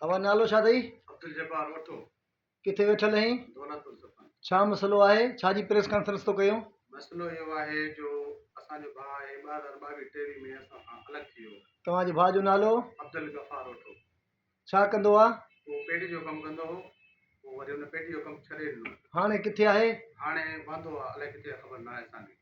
اوهان نالو ڇا اٿئي؟ عبدالجبار وٺو. ڪٿي ويٺل اهين؟ دولت السلطان. ڇا مسئلو آهي؟ ڇا جي پريس ڪانفرنس ٿو ڪيون؟ مسئلو اهو آهي جو اسان جو ڀاء آهي ٻه هزار ٻاويهه ٽيويهه ۾ اسان کان الڳ ٿي ويو. توهان جي ڀاء جو نالو؟ عبدالغفار وٺو. ڇا ڪندو آ؟ هو پيڊي جو ڪم ڪندو هو. پوء وري هن پيڊي جو ڪم ڇڏي ڏنو. هاڻي ڪٿي آهي؟ هاڻي وهندو آ. الائي ڪٿي آ خبر ناهي اسان کي.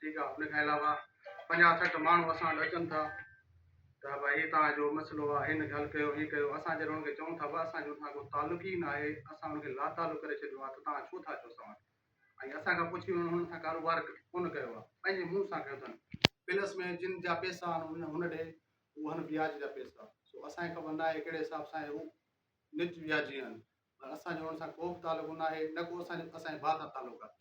ٺيڪ آ ان کان علاوه پنجاهه سٺ ماڻهو اسان وٽ اچن ٿا ته ڀاء هي توهان جو مسئلو آ هن کي حل ڪيو هي ڪيو اسان جڏهن ان کي چئون ٿا ڀاء اسان جو ان سان ڪو تعلق ئي ناهي اسان ان کي لاتعلق ڪري ڇڏيو آ ته توهان ڇو ٿا چئو اسان وٽ ۽ اسان کان پڇي انهن هن سان ڪاروبار ڪونه ڪيو آ پنهنجي منهن سان ڪيو اٿن پلس ۾ جن جا پيسا آهن هن ڏي اهو آهن وياج جا پيسا سو اسان کي خبر ناهي ڪهڙي حساب سان هي نج وياجي آهن پر اسان جو ان سان ڪوبه تعلق ناهي نه ڪو اسان جو اسان جي ڀاء سان تعلق آهي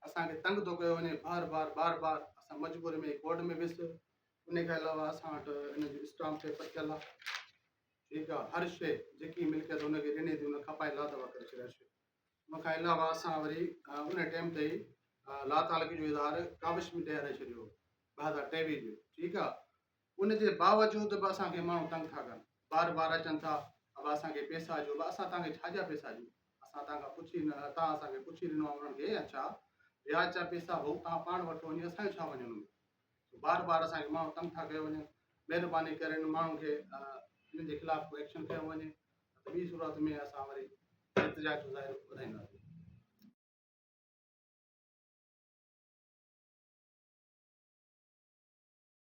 اسان کي تنگ ٿو ڪيو وڃي بار بار بار بار اسان مجبوري ۾ ڪورٽ ۾ ويس ان کان علاوه اسان وٽ ان جو اسٽام پيپر ٿيل آهي ٺيڪ آهي هر شيء جيڪي ملڪيت ان کي ڏني ٿي ان کپائي لا دوا ڪري ڇڏي شيء ان کان علاوه اسان وري ان ٽائم تي لا تعلقي جو اظهار ڪاوش ميڊيا ڏئي ڇڏيو ٻه هزار ٽيويهه جو ٺيڪ آهي ان جي باوجود به اسان کي ماڻهو تنگ ٿا ڪن بار بار اچن ٿا ابا اسان کي پيسا ڏيو ابا اسان توهانکي ڇا جا پيسا ڏيون اسان توهان کان پڇي نه توهان اسان کي پڇي ڏنو آهي انهن کي يا ڇا وياج جا پيسا هو توهان پاڻ وٺو وڃي اسان جو ڇا وڃي انهن ۾ بار بار اسان کي ماڻهو تنگ ٿا ڪيو وڃن مهرباني ڪري انهن ماڻهن کي انهن جي خلاف ڪو ايڪشن کيو وڃي ته ٻي صورت ۾ اسان وري احتجاج جو ظاهر ٻڌائينداسين